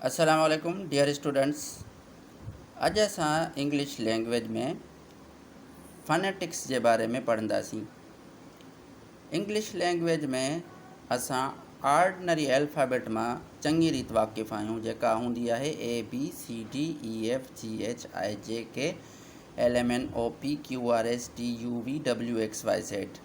السلام عليڪم dear students اڄ اسان انگلش لينگويج ۾ فنيٽڪس جي باري ۾ پڙهنداسين انگلش لينگويج ۾ اسان آرڊنري الفابيٽ مان چڱي ريت واقف آهيون جيڪا هوندي آهي A B C D E F G H I J K L M N O P Q R S T U V W X Y Z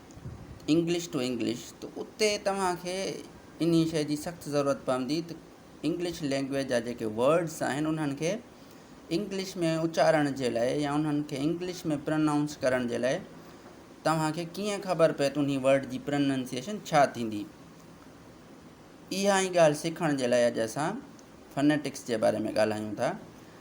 English to English ته اتي توهان کي ان شيء جي سخت ضرورت پوندي ته انگلش لينگويج جا جيڪي ورڊس آهن انهن کي انگلش ۾ اچارڻ جي لاء يا انهن کي انگلش ۾ پرنائونس ڪرڻ جي لاء توهان کي ڪيئن خبر پئي ته ان ورڊ جي پرننسيئيشن ڇا ٿيندي اها ئي ڳالهه سکڻ جي لاء اڄ اسان فنيٽڪس جي باري ۾ ڳالهايون ٿا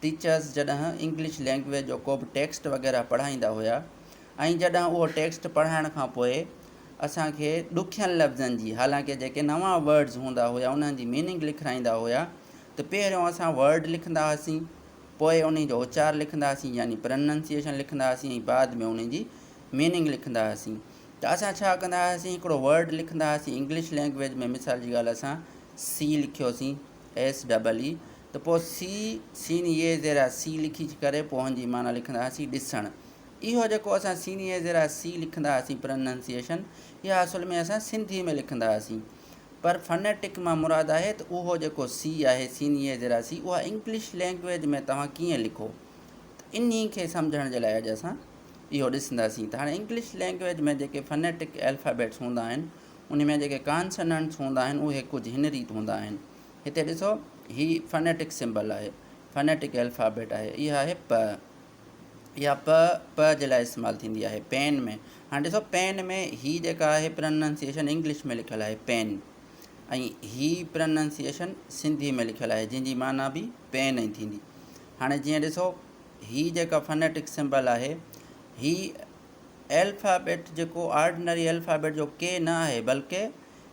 ٽيچرز جڏهن انگلش لينگويج جو ڪو به ٽيڪسٽ وغيره پڙهائيندا هيا ۽ جڏهن اهو ٽيڪسٽ پڙهائڻ کان پوء اسان کي ڏکين لفظن جي حالانڪه جيڪي نوان ورڊز هوندا هيا انهن جي ميننگ لکرائيندا هيا ته پهريون اسان ورڊ لکندا هئاسين پوء انهي جو اچار لکندا هئاسين يعني پرننسيئيشن لکندا هئاسين ۽ بعد ۾ انهي جي ميننگ لکندا هئاسين ته اسان ڇا ڪندا هئاسين هڪڙو ورڊ لکندا هئاسين انگلش لينگويج ۾ مثال جي ڳالهه اسان سي لکيوسين ايس ڊبل اي ته پوء سي سين يي زيرا سي لکي ڪري پوء هن جي معنيٰ لکندا هئاسين ڏسڻ. اهو جيڪو اسان سين يي زيرا سي لکندا هئاسين پرننسيئيشن اها اصل ۾ اسان سنڌي ۾ لکندا هئاسين پر فنيٽڪ مان مراد آهي ته اهو جيڪو سي آهي سين يي زيرا سي اها انگلش لينگويج ۾ توهان ڪيئن لکو ته انهي کي سمجهڻ جي لاء اڄ اسان اهو ڏسنداسين ته هاڻي انگلش لينگويج ۾ جيڪي فنيٽڪ الفابيٽس هوندا آهن انهي ۾ جيڪي ڪانسننٽس هوندا آهن اهي ڪجهه هن ريت هوندا آهن. هتي ڏسو هي فنيٽڪ سمبل آهي، فنيٽڪ الفابيٽ آهي. اها آهي پ. اها پ پ جي لاء استعمال ٿيندي آهي پين ۾. هاڻي ڏسو پين ۾ هي جيڪا آهي پرننسيئيشن انگلش ۾ لکيل آهي پين ۽ هي پرننسيئيشن سنڌي ۾ لکيل آهي جنهن جي معنيٰ به پين ئي ٿيندي. هاڻي جيئن ڏسو هي جيڪا فنيٽڪ سمبل آهي هي الفابيٽ جيڪو آرڊنري الفابيٽ جو ڪي نه آهي بلڪه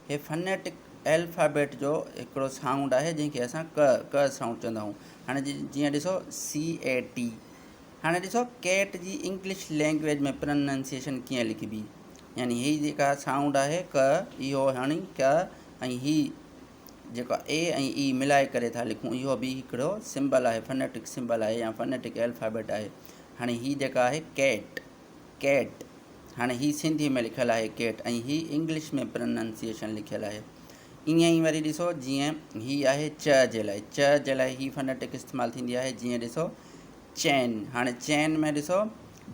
هي فنيٽڪ الفابيٽ جو هڪڙو سائونڊ آهي جنهن کي اسان ڪ ڪ سائونڊ چوندا آهيون هاڻي جيئن ڏسو سي اي ٽي هاڻي ڏسو ڪيٽ جي انگلش لينگويج ۾ پرننسيشن ڪيئن لکبي يعني هي جيڪا سائونڊ آهي ڪ اهو هاڻي ڪ ۽ هي جيڪو آ اي ۽ اي ملائي ڪري ٿا لکون اهو به هڪڙو سمبل آهي فنيٽڪ سمبل آهي يا فنيٽڪ الفابيٽ آهي هاڻي هي جيڪا آهي ڪيٽ ڪيٽ هاڻي هي سنڌي ۾ لکيل آهي ڪيٽ ۽ هي انگلش ۾ پرننسيشن لکيل آهي ائين ئي وري ڏسو جيئن هي آهي چ جي لاء چ جي لاء هي فنيٽڪ استعمال ٿيندي آهي جيئن ڏسو چين هاڻي چين ۾ ڏسو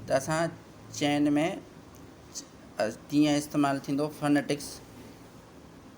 ته اسان چين ۾ ڪيئن استعمال ٿيندو فنيٽڪس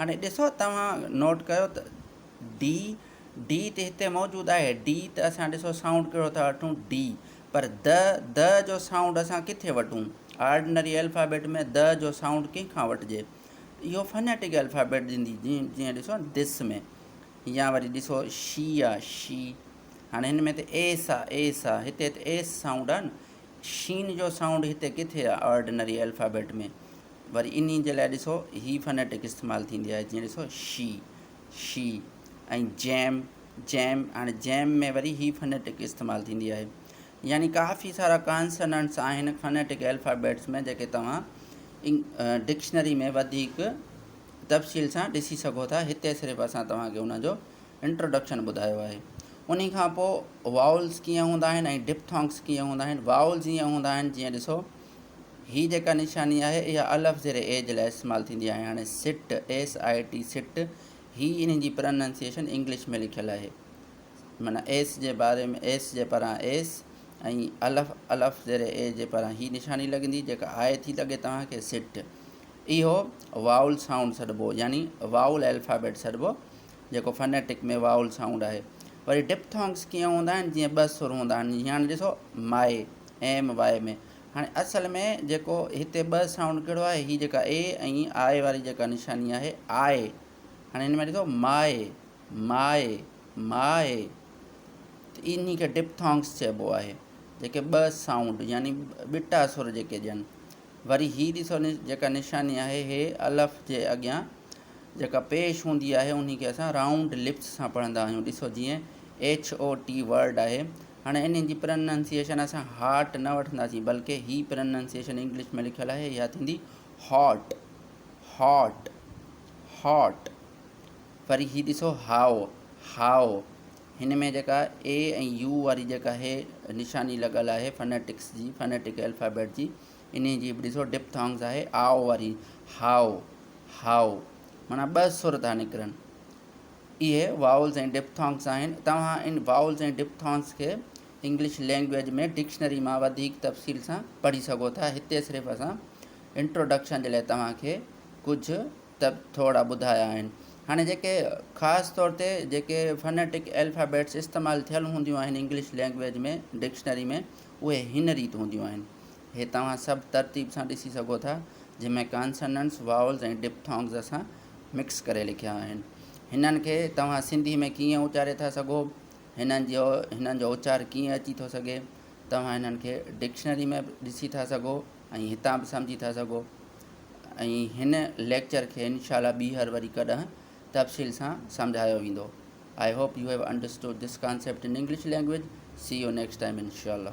هاڻي ڏسو توهان نوٽ ڪيو ته ڊي ڊي تي هتي موجود آهي ڊي ته اسان ڏسو سائونڊ ڪهڙو ٿا وٺون ڊي پر د د جو سائونڊ اسان ڪٿي وٺون آرڊنري الفابيٽ ۾ د جو سائونڊ ڪنهن کان وٺجي اهو فنيٽڪ الفابيٽ ڏيندي جيئن جيئن ڏسو دس ۾ يا وري ڏسو شي آه شي هاڻي هن ۾ ته ايس آه ايس آه هتي ته ايس سائونڊ آهن شين جو سائونڊ هتي ڪٿي آه آرڊنري الفابيٽ ۾ وري انهي جي لاء ڏسو هي فنيٽڪ استعمال ٿيندي آهي جيئن ڏسو شي شي ۽ جيم جيم هاڻي جيم ۾ وري هي فنيٽڪ استعمال ٿيندي آهي يعني ڪافي سارا ڪانسننٽس آهن فنيٽڪ الفابيٽس ۾ جيڪي توهان ڊڪشنري ۾ وڌيڪ تفصيل سان ڏسي سگهو ٿا هتي صرف اسان توهانکي ان جو انٽروڊڪشن ٻڌايو آهي ان کان پوء واولس ڪيئن هوندا آهن ۽ ڊپٿونگس ڪيئن هوندا آهن واولس ائين هوندا آهن جيئن ڏسو هي جيڪا نشاني آهي اها الف زير اي جي لاء استعمال ٿيندي آهي هاڻي سٽ ايس آء ٽي سٽ هي انهن جي پرننسيشن انگلش ۾ لکيل آهي معنيٰ ايس جي باري ۾ ايس جي پران ايس ۽ الف الف زير اي جي پران هي نشاني لڳندي جيڪا آء ٿي لڳي توهان کي سٽ اهو واول سائونڊ سڏبو يعني واول الفابيٽ سڏبو جيڪو فنيٽڪ ۾ واول سائونڊ آهي وري ڊپٿونگس ڪيئن هوندا آهن جيئن ٻه سر هوندا آهن هاڻي ڏسو مائي اين ايم واء ۾. هاڻي اصل ۾ جيڪو هتي ٻه سائونڊ ڪهڙو آهي هي جيڪا اي ۽ آء واري جيڪا نشاني آهي آء هاڻي هن ۾ ڏسو ماء ماء ماء ته انهي کي ڊپٿانگس چئبو آهي جيڪي ٻه سائونڊ يعني ٻٽا سر جيڪي ڏين وري هي ڏسو جيڪا نشاني آهي هي الف جي اڳيان جيڪا پيش هوندي آهي انهي کي اسان رائونڊ لپس سان پڙهندا آهيون ڏسو جيئن ايڇ او ٽي ورڊ آهي هاڻي انهن جي پرننسيئيشن اسان هارٽ نه وٺنداسين بلڪه هي پرننسيئيشن انگلش ۾ لکيل آهي اها ٿيندي هاٽ هاٽ هاٽ وري هي ڏسو هائو هائو هن ۾ جيڪا اي ۽ يو واري جيڪا هي نشاني لڳل آهي فنيٽڪس جي فنيٽڪ الفابيٽ جي انهي جي به ڏسو ڊپٿانگز آهي آئو واري هائو هائو معنيٰ ٻه سر ٿا نڪرن اهي Vowels ۽ Diphthongs آهن. توهان ان Vowels ۽ Diphthongs کي انگلش لينگويج ۾ ڊڪشنري مان وڌيڪ تفصيل سان پڙهي سگهو ٿا. هتي صرف اسان Introduction جي لاء توهان کي ڪجهه ته ٿورڙا ٻڌايا آهن. هاڻي جيڪي خاص طور تي جيڪي Phonetic Alphabets استعمال ٿيل هونديون آهن انگلش لينگويج ۾ ڊڪشنري ۾ اهي هن ريت هونديون آهن. اهي توهان سڀ ترتيب سان ڏسي سگهو ٿا جنهن ۾ Consonants، Vowels ۽ Diphthongs اسان مڪس ڪري لکيا آهن. هنن کي توهان سنڌي ۾ ڪيئن اچاري ٿا سگهو؟ هنن جو هنن جو اچار ڪيئن اچي ٿو سگهي؟ توهان هنن کي ڊڪشنري ۾ به ڏسي ٿا سگهو ۽ هتان به سمجهي ٿا سگهو ۽ هن ليڪچر کي انشاء الله ٻيهر وري ڪڏهن تفصيل سان سمجهايو ويندو. I hope you have understood this concept in English language. See you next time انشاء الله.